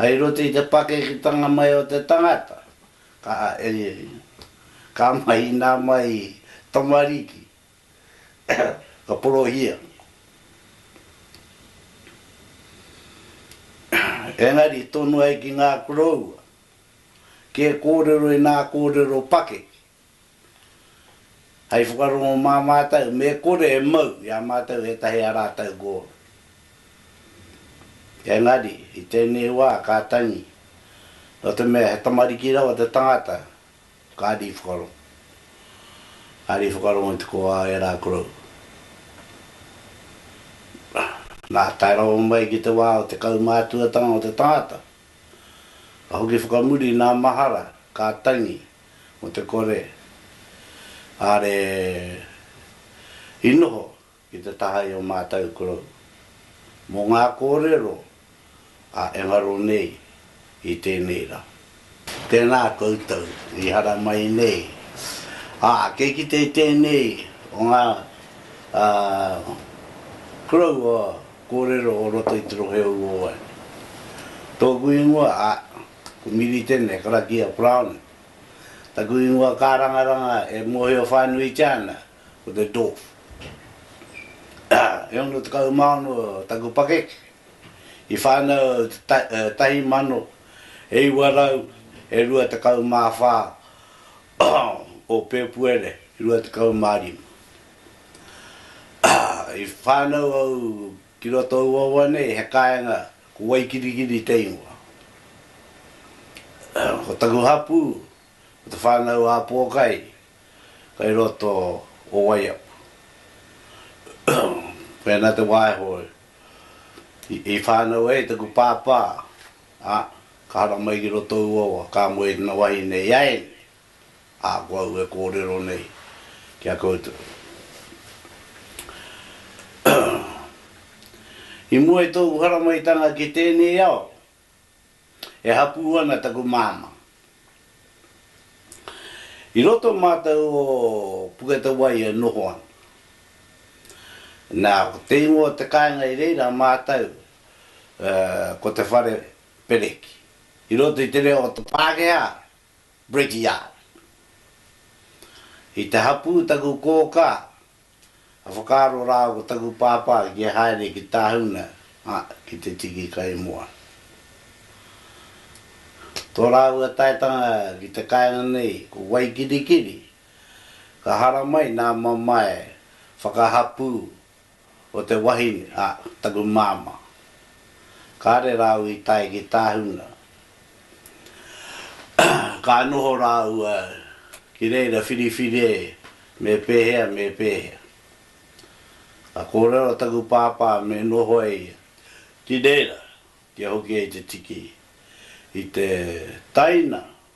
Hei roto i te pakeketanga mai o te tangata, ka ka mahina mai tamariki, ka porohia. Engari tonu ai ki ngā koroua, kē kōrero i nā kōrero pakeke. Hei whakarongo mā mātou, me kore e mau i a mātou ētahi a rātou gōna. Engari, i tēnei wā ka tangi, nō te mea he tamariki rawa te tangata, kāre i whakarongo. Kāre i whakarongo i te kōā o ērā korou. Nā, tae rawa mai ki te wā o te kaumātuatanga o te tangata, ka hoki whakamuri nā mahara, ka tangi, mo te kore are i noho ki te taha i o matou korou mo nga korero a engaro nei i tenei ra. Tena koutou i haramai nei, a kei kite i tenei o nga korou o korero o roto i te rohe o Uoane. Toku ingoa a. Ko Miri tēnei, karakia Browning. Taku ingoa kārangaranga e mōhio whānuitia ana, ko te Dwarf. E ono tekau mā ono taku pakeke, i whānau au i te tahi mano, e iwa rau, e rua tekau mā whā o Pēpuere rua tekau mā rima. I whānau au Ki roto i ua wa nei he kaenga ko Waikirikiri te ingoa. Ko taku hapu ko te whanau a Pokai kai roto o Waiapu. Pena te waeho i whanau ai taku pāpā a ka haramai ki roto i ua wa ka moe tana wahine i a ene. Ā, ko au e kōrero nei ki a koutou, i mua i tōku haramaitanga ki tēnei ao, e hapū ana taku māmā. I roto mātou o Puketawaī e noho ana. Nā, ko te ingoa o te kāinga i reira mātou, ko te whare pereki. I roto i te reo o te Pākehā, Bridge-Yard. I te hapū taku kōkā, ka whakaaro rā ko taku pāpā kia haere ki Tāhuna, ā, ki te tiki kaimoana. Tō rāua taetanga ki te kāinga nei ko Waikirikiri, ka haramai nā mamae whakahapū o te wahine a taku māmā. Kāre rāua i tae ki Tāhuna. Ka noho rāua ki reira whiriwhire me pēhea me pēhea. Ka kōrero taku pāpā me noho e ia ki reira kia hoki ai te tiki i te taina.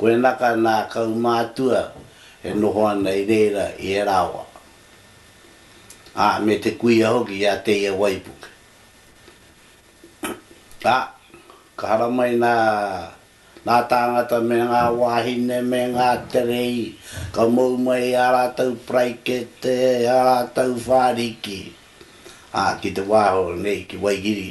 Koena ka nā kaumātua e noho ana i reira i ērā wā, ā, me te kuia hoki i a Teia waipuke. Ā, ka haramai nā ngā tāngata me ngā wāhine me ngā terei, ka mou mai ā rātou paraikete, ā rātou whāriki, ā, ki te wā hou nei ki Waihiri.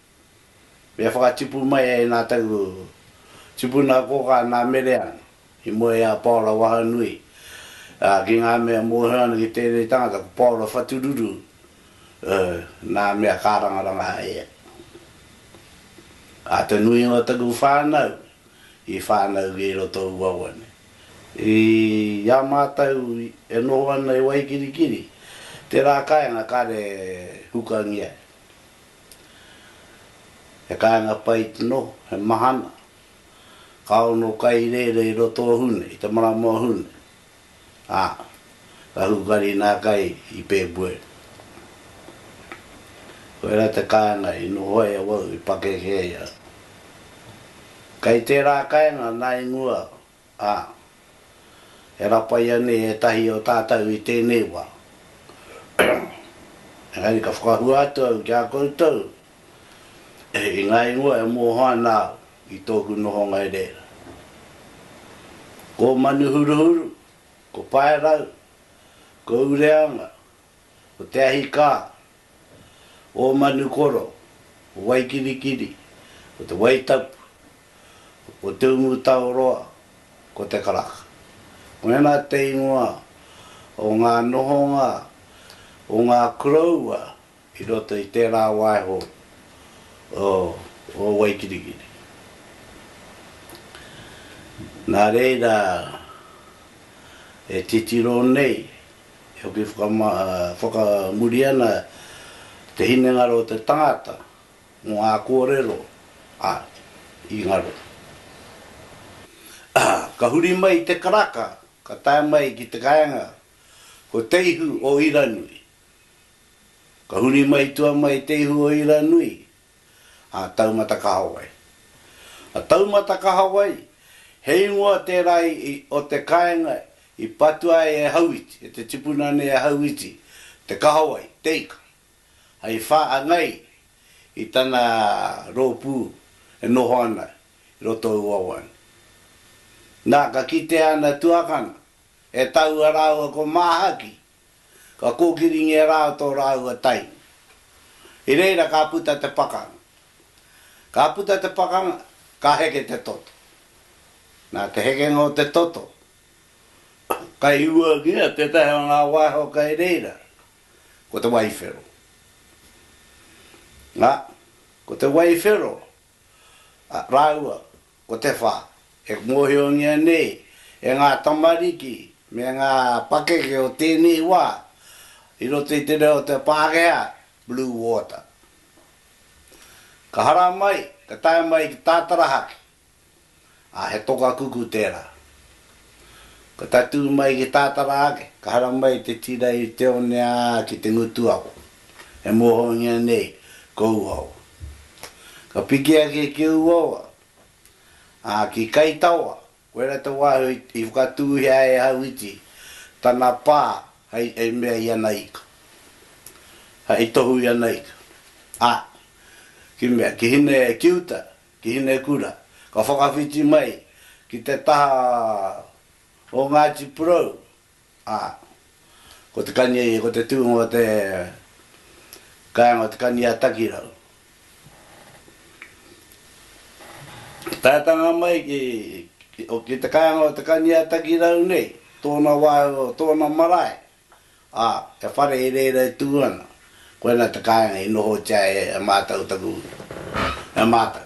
Me whakatipu mai ai nā taku tipuna kōkā nā Mereana i mua i a Paora Wahanui, ā, ki ngā mea mōhio ana ki tēnei tangata ko Paora Whatururu, ē, nā mea kārangaranga ai ia. Ā, te nuinga o taku whānau i whānau ki roto o uaua nei. I a mātou e noho ana i Waikirikiri, tērā kāinga kāre hukangia e. He kāinga pai tino, he mahana. Ka ono kai rere i roto o Hune, i te marama o Hune, a, ka hukari nā kai i Pēpuere. Koira te kāinga i noho ai awau i pakeke ai au. Kai tērā kāinga nā i mua Ā, e rapaia nei ētahi o tātou i tēnei wā. Engari ka whakahua atu au ki a koutou i ngā ingoa e moho ana au i tōku nohonga i reira. Ko Manuhuruhuru, ko Paerau, ko Ureanga, Ko te ahi kā, ō Manukoro, ko Waikirikiri, ko te Waitapu, ko Te Umutaoroa, ko Te Karaka. Mēnā te ingoa o ngā nohonga o ngā koroua i roto i tērā waiho o Waikirikiri. Nā reira e titiro nei. E hoki whakamuri ana te hinengaro o te tangata mō ngā kōrero a i ngaro. Ka huri mai i te karaka, ka tae mai ki te kaenga, ko Te Ihu o Iranui. Ka huri mai i tua mai Te Ihu o Iranui, a Taumata Kahawai. A Taumata Kahawai, he ingoa tērā o te kāinga i patua ai e Hauiti, e te tipuna nei a Hauiti, te kahawai, te ika, hei whāngai i tana rōpū e noho ana i roto i Wawane. Nā, ka kitea ana tuakana e taua rāua ko Māhaki, Ka kōkiringia rā tō rāua tainu. I reira ka puta te pakanga. Ka puta te pakanga, ka heke te toto. Nā te hekenga o te toto, ka hiuangia tētahi o ngā waiho kei reira, ko te waiwhero. Nā, ko te waiwhero rāua Ko te whā, e mōhiongia nei e ngā tamariki me ngā pakeke o tēnei wā i roto i te reo o te Pākehā, Blue Water. Ka hara mai, ka tae mai ki Tātarahaki, ā, he toka kuku tērā. Ka tatū mai ki Tātara ake, ka hara mai i te tira i Te One ā, ki Te Ngutuawa. E mohoengia nei kou ao. Ka piki ake ki ou awa, a, ki Kai Tawa, koira te wahi i whakatūhia e Hauiti tana pa hei, hei mea i ana ika. Hei tohu i ana ika. A, ki mea, ki Hine, ki uta, ki Hinekura, ka whakawhiti mai ki te taha o Ngāti Porou, Ā, ko te kani, ko te tūnga o te kāinga o Te Kani-ā-Takirau. Taetanga mai ki, ki te kāinga o Te Kani-ā-Takirau nei, tōna wā, tōna marae, ā, he whare i reira e tū ana, koinā te kāinga i nohotia e, e mātou taku, e mātou.